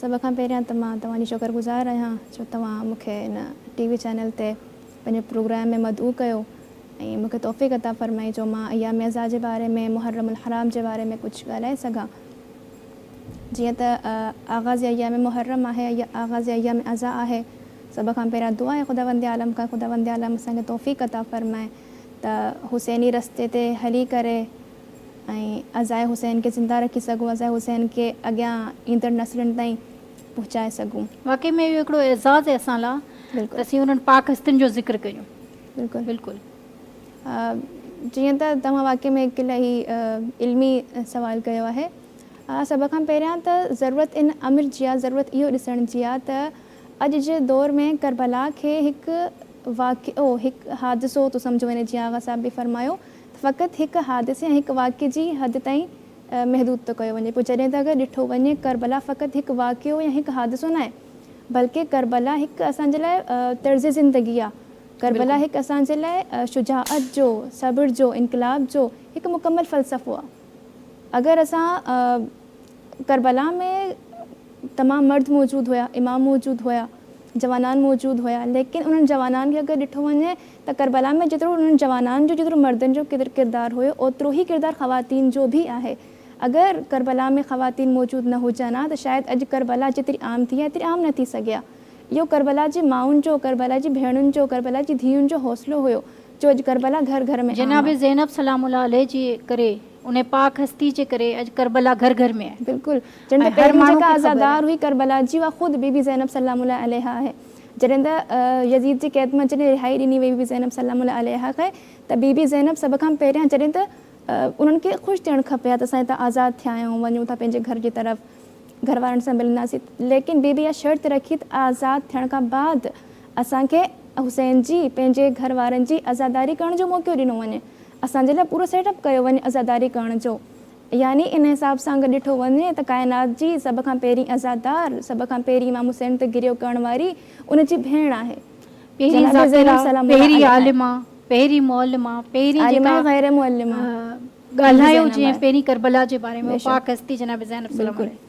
سڀ کان پهريان ته مان توهان جي شڪر گذار آهيان جو توهان مون کي هن ٽي وي چينل تي پنهنجي پروگرام ۾ مدعو ڪيو ۽ مون کي توفيق عطا فرمائي جو مان ايام عزا جي باري ۾ محرم الحرام جي باري ۾ ڪجهه ڳالهائي سگهان جيئن ته آغاز ايام محرم آهي يا آغاز ايام عزا آهي سڀ کان پهريان دعا آهي خداوند عالم کان خداوند عالم اسان کي توفيق عطا فرمائي ته حسيني رستي تي هلي ڪري ۽ عزاء حسين کي زنده رکي سگهون، عزاء حسين کي اڳيان ايندڙ نسلن تائين پهچائي سگهون. واقعي ۾ اهو هڪڙو اعزاز آهي اسان لا ته اسين انهن پاڪ هستين جو ذڪر ڪريون. بلڪل بلڪل جيئن ته توهان واقعي ۾ هڪ الائي علمي سوال ڪيو آهي. سڀ کان پهريان ته ضرورت ان امر جي آهي ضرورت اهو ڏسڻ جي آهي ته اڄ جي دور ۾ ڪربلا کي هڪ واقعو هڪ حادثو ٿو سمجهيو وڃي جيئن آغا صاحب به فرمايو فقط هڪ حادثي ۽ هڪ واقعي جي حد تائين محدود ٿو ڪيو وڃي پيو جڏهن ته اگر ڏٺو وڃي ڪربلا فقط هڪ واقعو يا هڪ حادثو ناهي بلڪه ڪربلا هڪ اسان جي لاء طرز زندگي آهي ڪربلا هڪ اسان جي لاء شجاعت جو، صبر جو، انقلاب جو هڪ مڪمل فلسفو آهي اگر اسان ڪربلا ۾ تمام مرد موجود هيا امام موجود هيا جوانان موجود هيا ليڪن انهن جوانان کي اگر ڏٺو وڃي ته ڪربلا ۾ جيترو انهن جوانان جو جيترو مردن جو ڪردار هيو اوترو هي ڪردار خواتين جو به آهي اگر ڪربلا ۾ خواتين موجود نه هجن ها ته شايد اڄ ڪربلا جيتري عام ٿي آهي ايتري عام نه ٿي سگهي ها اهو ڪربلا جي مائن جو ڪربلا جي ڀيڻن جو ڪربلا جي ڌيئن جو حوصلو هيو جو اڄ ڪربلا گهر گهر ۾ عام جناب آهي. زينب سلام الله عليه جي ڪري انهي پاڪ هستي جي ڪري اڄ ڪربلا گهر گهر ۾ آهي بلڪل جنهن ۾ ۽ هر پهريون ماڻهو جيڪا کي خبر عزادار آهي. هئي ڪربلا جي اها خود بي بي زينب سلام الله عليها آهي. جڏهن ته يزيد جي قيد مان جڏهن رهائي ڏني وئي بي بي زينب سلام الله عليها کي ته بي بي زينب سڀ کان پهريان جڏهن ته انهن کي خوش ٿيڻ کپي ها ته اسان هتان آزاد ٿيا آهيون وڃون ٿا پنهنجي گهر جي طرف گهر وارن سان ملنداسين ليڪن بي بي اها شرط رکي ته آزاد ٿيڻ کان بعد اسان کي حسين جي پنهنجي گهر وارن جي عزاداري ڪرڻ جو موقعو ڏنو وڃي اسان جي لاء پورو سيٽ اپ ڪيو وڃي عزاداري ڪرڻ جو يعني ان حساب سان اگر ڏٺو وڃي ته ڪائنات جي سڀ کان پهرين عزادار، سڀ کان پهرين امام حسين تي گريو ڪرڻ واري ان جي ڀيڻ آهي. پهرين جناب زينب ذاڪره، سلام الله پهرين عليها آهي. عالمه، پهرين معلمه، پهرين عالمه جيڪا ۽ غير معلمه. ڳالهايو زينب جنهن آهي. پهرين ڪربلا جي باري ۾ بيشڪ. پاڪ هستي جناب زينب سلام بلڪل. عليها.